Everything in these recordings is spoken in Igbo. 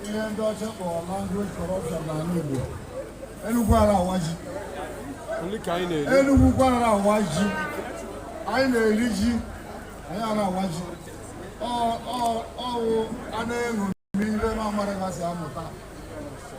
ihe ndị ọcha kpọrọ language corruption n'ala Igbo Enugwu ara awa ji Enugwu ukwu ara awa ji anyị na-eri ji anyị ara awa ji ọwụ a na-eṅomi ihe na-amara gasị amụta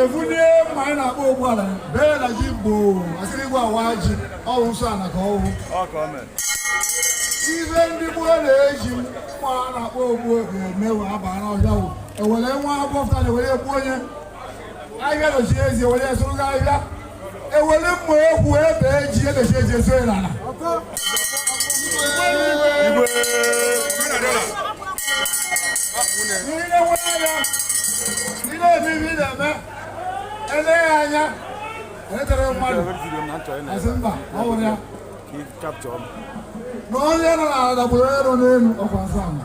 ebulie mma anyị na-akpọ ogbu ala bee na ji bụ asị igwe awa ji ọwụ nsọ ana ka ọwụ ihe ndị gboo na-eji mma a na-akpọ ogbu ga-emewe abara ọhịa wụ ewere nwa agbọfụta na ewere egbu onye ahịa dochie ezi ewere sụọ ụzọ ahịa ewere mma ekwu ebe ji ebechi eji ezo ya n'ala niile nwe anya niile ebibi na-eme eleghị anya etere mmadụ asị mba ọ wụrụ ya na onye nọ n'ala dagburu onye nọ n'elu ọkwa nsọ ala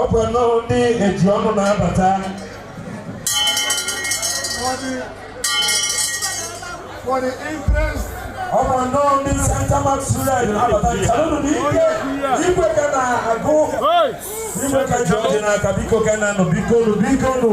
ọ bụ nnọọ ndị eji ọnụ na-abata for the interest ọ bụ nnọọ ndị Santa Max Red na-abata chalụnụ n'ike igwe ka na-agọ igwe ka ji ọjị n'aka biko ka na-anụ biko nụ biko nụ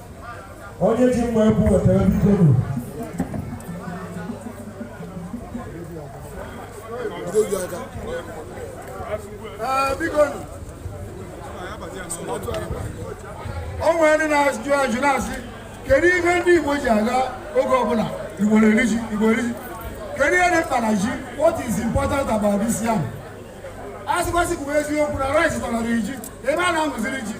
onye ji mma ekwu wetara biko nụ o nwere ndị na-ajụ ajụ na-asị kedu ihe ndị Igbo ji aga oge ọbụla Igbo na-eri ji Igbo eri ji kedu ihe dị mkpa na ji what is important about this yam a sịkwasị kwuo eziokwu na rice tọrọ ji ebe a na-amụziri ji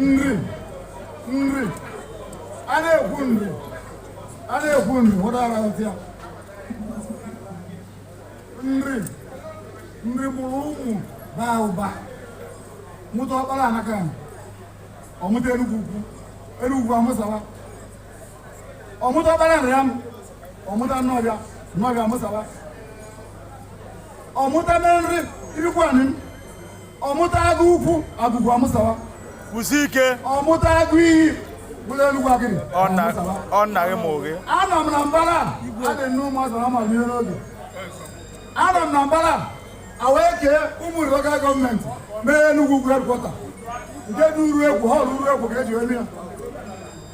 nri nri a na-ekwu nri a na-ekwu nri nwetara ya nri nri mụrụ ụmụ baa ụba mụta ọkpara anaka ọmụta enugwu ukwu enugwu amụsaba ọmụta ọkpara nrịam ọmụta nnọfịa nnọfịa amụsaba ọmụta menri ifikwuanịm ọmụta agụ ukwu agụ ukwu amụsaba kwụsị ike ọmụta agụ iyi bụrụ enugwu agịdị ọ na- amụsaba. ọ naghị m oge anọ n'Anambra adị nne ụmụazị na-amarọ ihe n'oge anọ n'Anambra ewee kee ụmụnri lokal gọọmenti mee Enugwu ukwu headquarter nke dị uruekwo họọlụ uruekwo ka eji eme ya